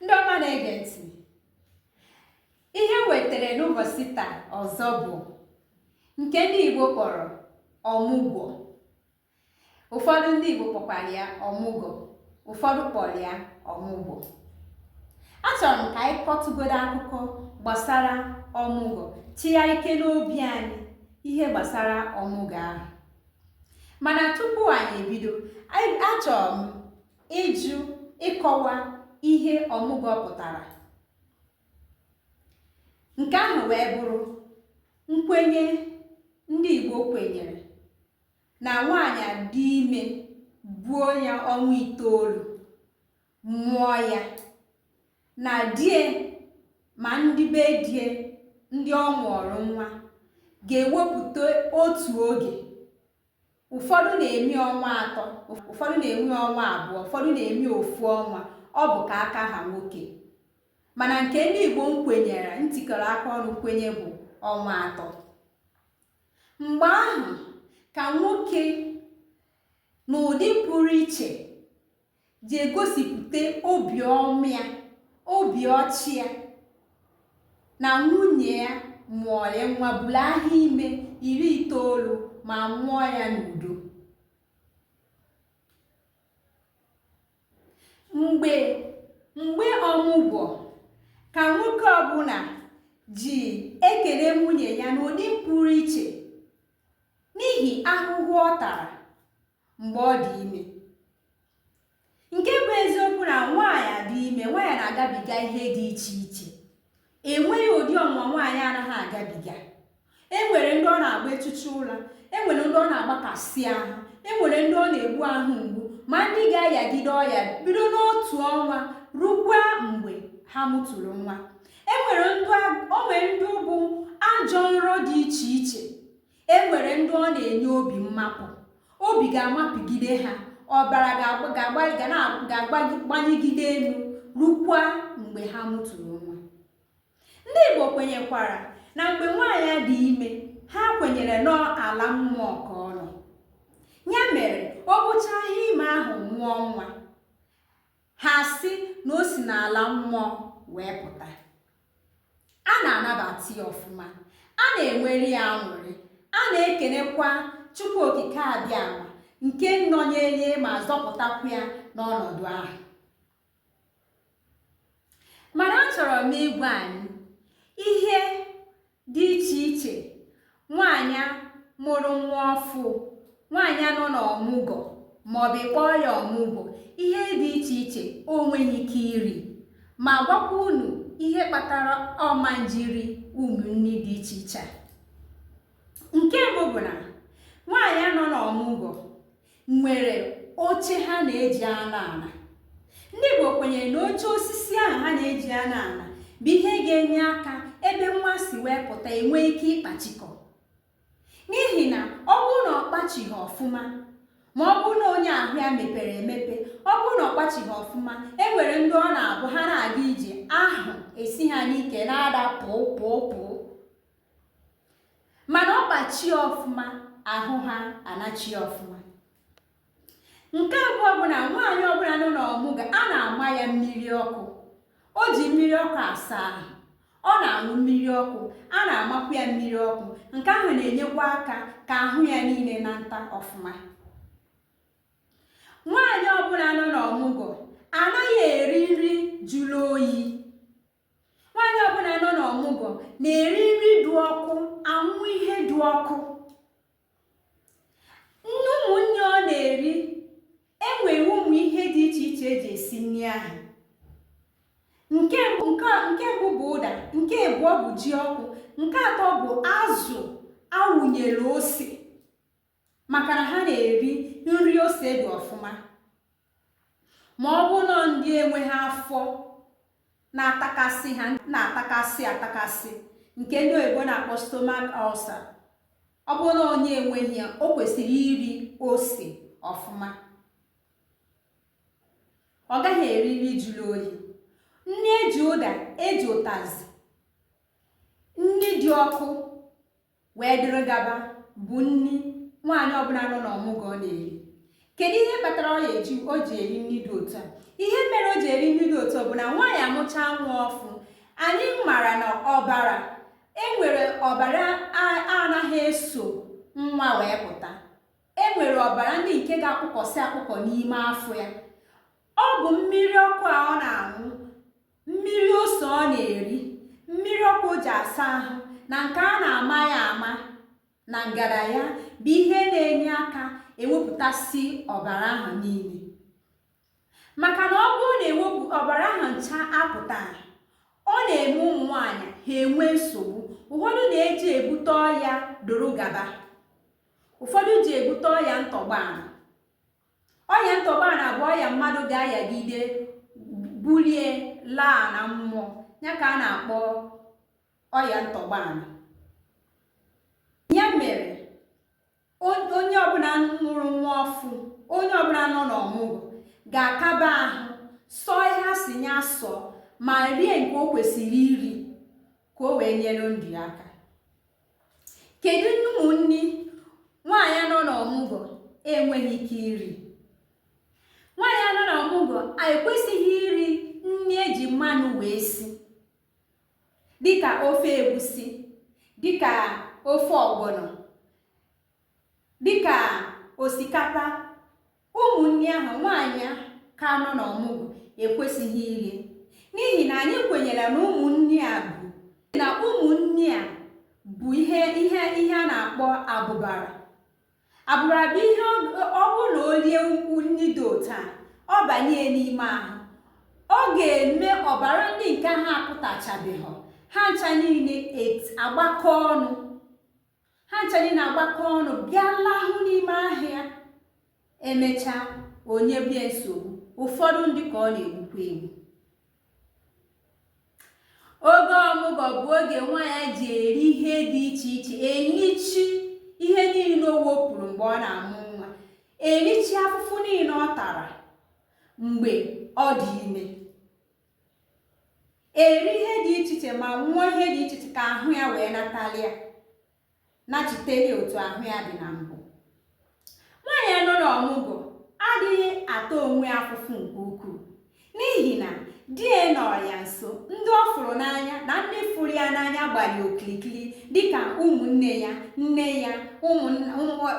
ndị ọma na-ege ntị ihe m wetara n'ụbọchị taa ọzọ bụ nke ndị Igbo kpọrọ ọmụgwọ ụfọdụ ndị Igbo kpọkwara ya ọmụgọ ụfọdụ kpọrọ ya ọmụgwọ achọrọ m ka anyị kọtụgodo akụkọ gbasara ọmụgwọ chịa ike n'obi anyị ihe gbasara ọmụgwọ ahụ mana tupu anyị ebido achọrọ m ịjụ ịkọwa ihe ọmụgwọ pụtara nke ahụ wee bụrụ nkwenye ndị Igbo kwenyere na nwaanyị dị ime buo ya ọnwa itoolu mụọ ya na die ma ndị be die ndị ọ mụọrọ nwa ga-ewepụta otu oge ụfọdụ na-eme ọnwa atọ ụfọdụ na-eme ọnwa abụọ ụfọdụ na-eme ofu ọnwa ọ bụ ka aka ha nwoke mana nke ndị Igbo kwenyere ntikọrọ aka ọnụ kwenye bụ ọnwa atọ mgbe ahụ ka nwoke n'ụdị pụrụ iche ji egosipụta obiọma ya obi ọchị ya na nwunye ya mụọrị nwa buru ahọ ime iri itoolu ma mụọ ya n'udo mgbe mgbe ọmụgwọ ka nwoke ọbụla ji ekele nwunye ya n'ụdị pụrụ iche n'ihi ahụhụ ọ tara mgbe ọ dị ime nke bụ eziokwu na nwaanyị dị ime nwaanyị na-agabiga ihe dị iche iche enweghị ụdị ọnwa nwaanyị anaghị agabiga enwere ndị ọ na-agbachicha ụra enwere ndị ọ na-agbakasị ahụ enwere ndị ọ na-egbu ahụ mgbu ma ndị ga-ayagide ọya bido n'otu ọnwa rukwa mgbe ha mụtụrụ nwa enwere ndị ọ bụ ajọ nrọ dị iche iche e nwere ndị ọ na-enye obi mmapụ obi ga-amapụgide ha ọbara ga-agbanyegide elu rukwa mgbe ha mụtụrụ nwa ndị Igbo kwenyekwara na mgbe nwaanyị dị ime ha kwenyere na ọ ala mmụọ ka ọ nọ ya mere o bucha ahọ ime ahụ mụọ nwa ha sị na o si n'ala mmụọ wee pụta a na-anabata ya ọfụma a na-enwere ya aṅụrị a na-ekenekwa Chukwu Okike Abịama nke nọnyelie ma zọpụtakwu ya n'ọnọdụ ahụ mana achọrọ m ịgwa anyị ihe dị iche iche nwaanyị mụrụ nwa ọfụ nwaanyị nọ n'ọmụgọ maọbụ ị kpọọ ya ọmụgwọ ihe dị iche iche o nweghị ike iri ma gwakwa unu ihe kpatara ọ ma-eji ri ụmụ nri dị iche iche nke mbụ bụ na nwaanyị nọ n'ọmụgwọ nwere oche ha na-eji anọ ala ndị Igbo kwenyere na oche osisi ahụ ha na-eji anọ ala bụ ihe ga-enye aka ebe nwa si wee pụta enwee ike ịkpachikọ n'ihi na ọ bụrụ na ọ kpachighị ọfụma ma ọ bụrụ na onye ahụ ya mepere emepe ọ bụrụ na ọ kpachighị ọfụma e nwere ndị ọ na-abụ ha na-aga ije ahụ esi ha n'ike na-ada pụọ pụọ pụọ mana ọ kpachie ọfụma ahụ ha anachie ọfụma nke abụọ bụ na nwaanyị ọbụla nọ n'ọmụgwọ a na-ama ya mmiri ọkụ o ji mmiri ọkụ asa ahụ ọ na-aṅụ mmiri ọkụ a na-amakwu ya mmiri ọkụ nke ahụ na-enyekwa aka ka ahụ ya niile nata ọfụma nwaanyị ọbụla nọ n'ọmụgwọ anaghị eri nri jụrụ oyi nwaanyị ọbụla nọ n'ọmụgwọ na-eri nri dị ọkụ aṅụ ihe dị ọkụ nri ụmụ nri ọ na-eri enwere ụmụ ihe dị iche iche eji esi nri ahụ nke mbụ bụ ụda nke abụọ bụ ji ọkụ nke atọ bụ azụ a wụnyere ose maka na ha na-eri nri ose dị ọfụma ma ọ bụrụ na ndị enweghị afọ na-atakasị ha na-atakasị atakasị nke ndị oyibo na-akpọ stomach ulcer ọ bụrụ na onye enweghị ya o kwesịrị iri ose ọfụma ọ gaghị eri nri jụrụ oyi nri eji ụda eji ụtazị nri dị ọkụ wee dịrị gaba bụ nri nwaanyị ọbụla nọ n'ọmụgwọ na-eri kedu ihe kpatara ọ ga-eji o ji eri nri dị otu a ihe mere o ji eri nri dị otu a bụ na nwaanyị mụchaa nwa ọfụ anyị mara na ọbara enwere ọbara a- anaghị eso nwa wee pụta enwere ọbara ndị nke ga-akpụkọsị akpụkọ n'ime afọ ya ọ bụ mmiri ọkụ a ọ na-aṅụ mmiri ose ọ na-eri mmiri ọkụ o ji asa ahụ na nke a na-ama ya ama na ngara ya bụ ihe na-enye aka ewepụtasị ọbara ahụ niile maka na ọ bụrụ na eweghị ọbara ahụ ncha apụta ọ na-eme ụmụ nwaanyị ha enwe nsogbu ụfọdụ na-eji ebute ọya doro gaba ụfọdụ ji ebute ọya ntọgba ọya ntọgbana bụ ọya mmadụ ga-ayagide bulie laa na mmụọ ya ka a na-akpọ ọya ntọgbana ya mere onye ọbụla mụrụ nwa ọfụ onye ọbụla nọ n'ọmụgwọ ga-akaba ahụ sọ ihe a sị ya sọ ma rie nke o kwesịrị iri ka o wee nyere ndụ ya aka kedu ụmụ nri nwaanyị nọ na ọmụgwọ enweghị ike iri nwaanyị nọ na ọmụgwọ ekwesịghị iri nri eji mmanụ wee si dịka ofe egusi dịka ofe ọgbọnọ dịka osikapa ụmụ nri ahụ nwaanyị ka nọ n'ọmụgwọ ekwesịghị iri n'ihi na anyị kwenyere na ụmụ nri a bụ na ụmụ nri a bụ ihe a na-akpọ abụbara abụbara bụ ihe ọ bụrụ na o rie ụmụ nri dị otu a ọ banye n'ime ahụ ọ ga-eme ọbara ndị nke ha apụtachabeghị ha ncha niile agbakọ ọnụ ha ncha niile agbakọ ọnụ bịa lahụ n'ime ahụ ya emechaa o nyebe ya nsogbu ụfọdụ ndị ka ọ na-egbukwa egbu oge ọmụgwọ bụ oge nwaanyị ji eri ihe dị iche iche erichi ihe niile o wepụrụ mgbe ọ na-amụ nwa erichi afụfụ niile ọ tara mgbe ọ dị ime eri ihe dị iche iche ma nwụọ ihe dị iche iche ka ahụ ya wee natalịa nachiteli otu ahụ ya dị na mbụ nwaanyị nọ n'ọmụgwọ adịghị ata onwe ya afụfụ nke ukwuu n'ihi na di ya nọ ya nso ndị ọ fụrụ n'anya na ndị fụrụ ya n'anya gbara ya okirikiri dịka ụmụnne ya nne ya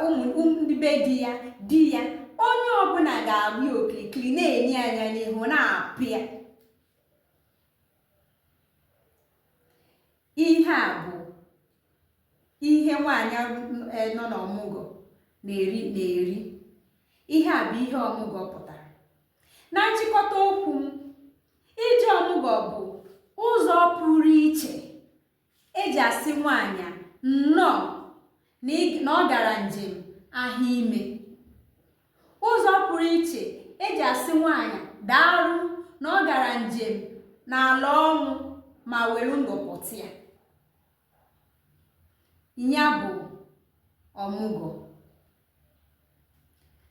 ụmụ ndị be di ya di ya onye ọbụla ga-agba ya okirikiri na-ene ya anya n'ihu na-apụ ya ihe a bụ ihe nwaanyị nọ n'ọmụgwọ na-eri ihe a bụ ihe ọmụgwọ pụtara na nchịkọta okwu m ije ọmụgwọ bụ ụzọ pụrụ iche eji asị nwaanyị a nnọọ na ọ gara njem afọ ime ụzọ pụrụ iche eji asị nwaanyị daalụ na ọ gara njem n'ala ọnwụ ma were ndụ pụta ya ya bụ ọmụgwọ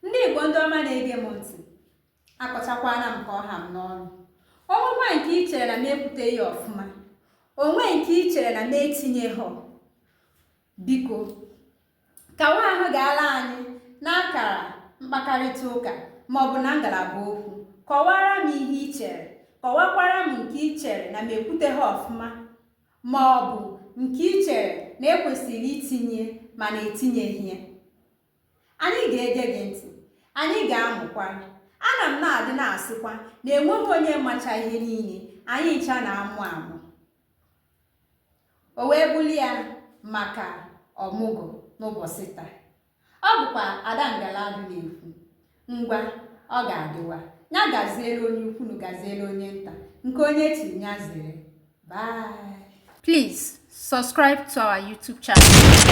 ndị Igbo ndị ọma na-ege m ntị akọchakwana m ka ọ ha m n'ọnụ o nwekwa nke i chere na m ekwuteghị ọfụma o nwee nke i chere na m etinyeghị biko kawa ahụ ga-ala anyị n'akara mkpakarịta ụka maọbụ na ngalaba okwu kọwara m ihe i chere kọwakwara m nke i chere na m ekwuteghị ọfụma ma ọ bụ nke i chere na e kwesịrị itinye mana etinyeghị ya Anyị ga-ege gị ntị, anyị ga-amụkwa. Ana m na-adị na-asịkwa na enweghị onye macha ihe niile, anyị ncha na-amụ amụ. O wee bụrụ ya maka ọmụgwọ n'ụbọchị taa. Ọ bụkwa Ada Ngaladu na-ekwu, ngwa ọ ga-adịwa, ya gaziere onye ukwu na gaziere onye nta, nke onye chiri ya zere. Bye. Please subscribe to our YouTube channel.